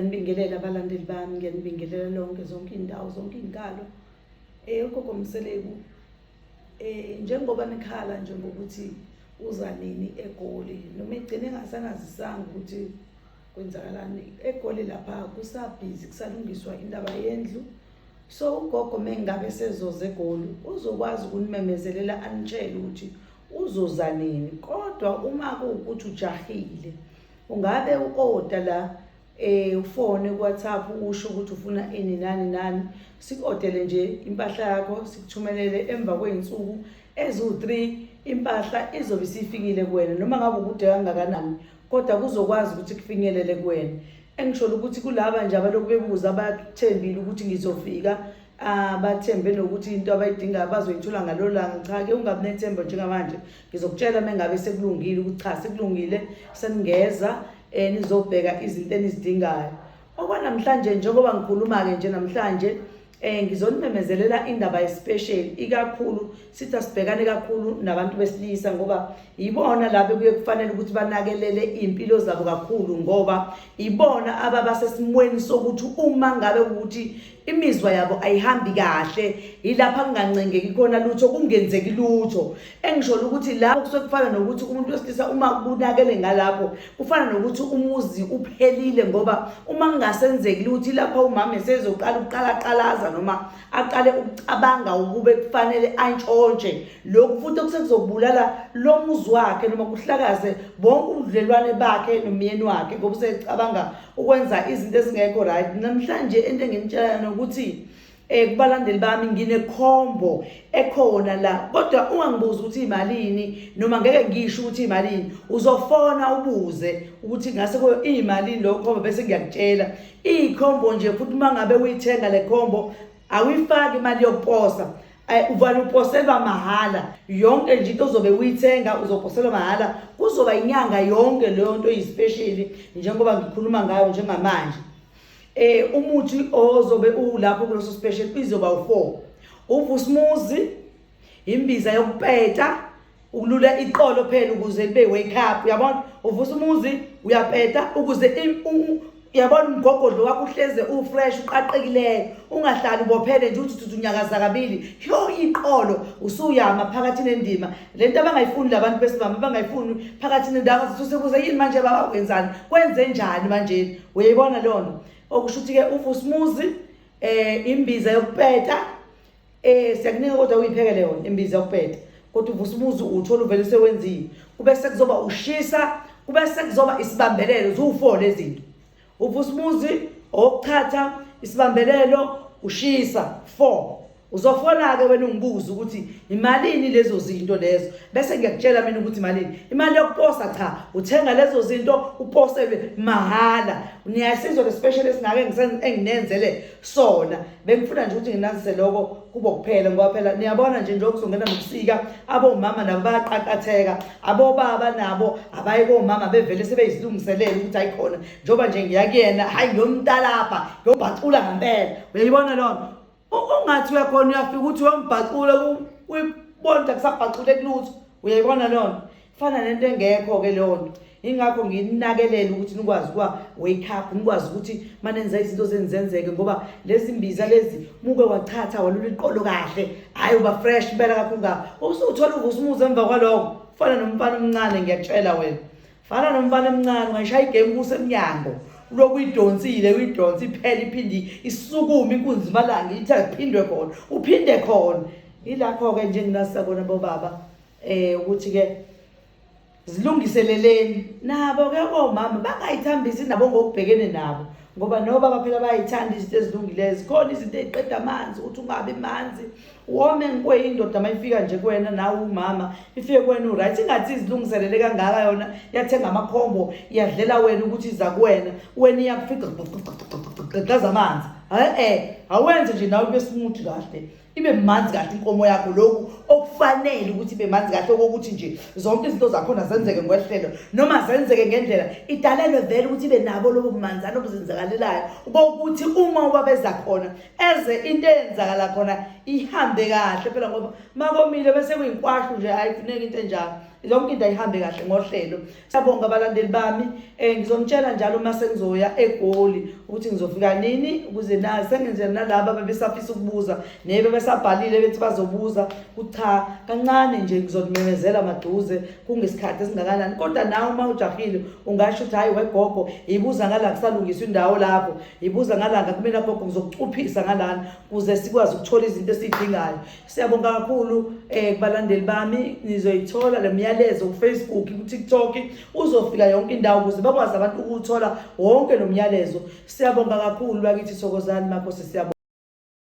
nibingelela abalandeli bami ngiyanibingelela lonke zonke iy'ndawo zonke iy'nkalo um ugogo mseleku um njengoba nikhala nje ngokuthi uza nini egoli noma egcine engasanazisanga ukuthi kwenzakalani egoli lapha kusabhizi kusalungiswa indaba yendlu so ugogo mengabe sezoza egoli uzokwazi ukunimemezelela anitshele ukuthi uzoza nini kodwa uma kuwukuthi ujahile ungabe u-oda la eh ufone kuWhatsApp usho ukuthi ufuna ini nani nani sikodele nje impahla yakho sikuthumelele emva kweinsuku ezu3 impahla izobe isifikile kuwena noma ngabe ukude kangakanani kodwa kuzokwazi ukuthi kufinyelele kuwena engisholo ukuthi kulaba nje abaloku bebuza abathembile ukuthi ngizofika abathembe nokuthi into abayidingayo bazoyithola ngalolanga cha ke ungabi nethemba njengamanje ngizokutshela uma ngabe sekulungile ukuthi cha sekulungile seningeza um nizobheka izinto enizidingayo okwanamhlanje njengoba ngikhuluma-ke nje namhlanje um ngizonimemezelela indaba yespecial ikakhulu sithi asibhekane kakhulu nabantu besilisa ngoba yibona lapho kuye kufanele ukuthi banakelele iy'mpilo zabo kakhulu ngoba yibona ababasesimweni sokuthi uma ngabe ukuthi imizwa yabo ayihambi kahle yilapha kungancengeki khona lutho kungenzeki lutho engisholo ukuthi lapho kusuke kufana nokuthi umuntu wesilisa uma kunakele ngalapho kufana nokuthi umuzi uphelile ngoba uma kungasenzeki luthi lapho umama esezoqala ukuqalaqalaza noma aqale ukucabanga ukube kufanele antshontshe lokhu futhi okusekuzokulala lo muzi wakhe noma kuhlakaze bonke ubudlelwane bakhe nomyeni wakhe ngoba usecabanga ukwenza izinto ezingekho right namhlanje into enginitshela yona ukuthi eh kubalandeli bami nginekhombo ekhona la kodwa ungangibuza ukuthi imalini noma ngeke ngisho ukuthi imalini uzofona ubuze ukuthi ngase ko imalini lo khombo bese ngiyakutshela ikhombo nje futhi mangabe uyithenga le khombo awuyifaki imali yokuposa uvale uposelwa mahhala yonke nje into ozobe uyithenga uzoposelwa mahhala kuzoba inyanga yonke leyo nto eyispesheli njengoba ngikhuluma ngayo njengamanje eh umuthi ozobe ulapho kuloso special izoba u4 uvusmuzi imbiza yokupeta ukulula iqolo phela ukuze libe wake up uyabona uvusa umuzi uyapeta ukuze uyabona umgogodlo wakho uhleze ufresh uqaqekileyo ungahlali ubophele nje uthi uthi unyakaza kabili yho iqolo usuyama phakathi nendima le nto abangayifuni labantu besimama abangayifuni phakathi nendawo sisusebuza yini manje baba wenzani kwenze njani manjeni uyayibona leyo nto okusho ukuthi-ke uvusa umuzi um imbiza yokupeta Eh siyakunika kodwa uyiphekele yona imbiza ukuphethe. Kodwa uvusa umuzi uthola uvele usewenzile. Kube sekuzoba ushisa, kube sekuzoba isibambelelo zuwu4 lezinto. Uvusa umuzi okuthatha isibambelelo ushisa 4. Uzofona ke wena ungibuza ukuthi imalini lezo zinto lezo bese ngiyakutshela mina ukuthi imalini imali yokuposa cha uthenga lezo zinto uposelwe mahala niyasizwa le special esingake enginenzele sona bengifuna nje ukuthi nginazise lokho kubo kuphela ngoba phela niyabona nje njengoba kuzongena nobusika abomama nabo bayaqaqatheka abobaba nabo abaye komama bevele sebeyizilungiselele ukuthi ayikhona njengoba nje ngiya kuyena hhayi ngiyomtalapha ngiyobhacula ngempela uyayibona loo nto ungathi uyakhona uyafika ukuthi uyombhacula kuyibonta kusabhacule kulutho uyayibona loo nto fana nento engekho-ke leyo nto ingakho nginakelele ukuthi nikwazi ukuba wake up nikwazi ukuthi manenza izinto zenizenzeke ngoba lezi mbiza lezi muke wachatha walula iqolo kahle hhayi uba fresh impela kakho nga usuthola uvusa umuzi emva kwaloko fana nomfana omncane ngiyakutshela wena fana nomfana omncane ungayishaya igame kusemnyango uloku uyidonsile uyidonse iphele iphinde isukume inkunzi imalanga ithi aphindwe khona uphinde khona yilakho-ke njenginasakona bobaba eh ukuthi ke zilungiseleleni nabo ke omama bangayithambisi nabo ngokubhekene nabo ngoba noba baphela bayayithanda izinto ezilungileyo zikhona izinto eziqeda amanzi ukuthi ungabi manzi wome nkwe indoda uma ifika nje kuwena nawe umama ifike kuwena uright ingathi izilungiselele kangaka yona yathenga amakhombo iyadlela wena ukuthi iza kuwena wena iyakufica gqaza amanzi e-e awenze nje nawe kube simuthi kahle ibe manzi kahle inkomo yakho lokhu okufanele ukuthi ibe manzi kahle okokuthi nje zonke izinto zakhona zenzeke ngwehlelo noma zenzeke ngendlela idalelwe vele ukuthi ibe nabo lobo bumanzana obuzenzakalelayo bokuthi uma ubabeza khona eze into eyenzakala khona ihambe kahle phela ngoba makomile bese kuyinkwahlu nje ayifuneki into enjalo yonke into ayihambe kahle ngohlelo Siyabonga abalandeli bami eh ngizonitshela njalo uma sengizoya egoli ukuthi ngizofika nini ukuze na sengenzela nalabo abebesafisa ukubuza nebe besabhalile bethi bazobuza kucha kancane nje ngizonimemezela maduze kungesikhathi esingakanani kodwa nawe uma ujahile ungasho ukuthi hayi wegogo yibuza ngala kusalungiswa indawo lapho yibuza ngalanga kumina gogo ngizokucuphisa ngalana kuze sikwazi ukuthola izinto esizidingayo Siyabonga kakhulu eh kubalandeli bami nizoyithola lemyalezo ku Facebook ku TikTok uzofika yonke indawo ukuze bakwazi abantu ukuthola wonke nomyalezo. Siyabonga kakhulu bakithi Thokozani makhosi siyabonga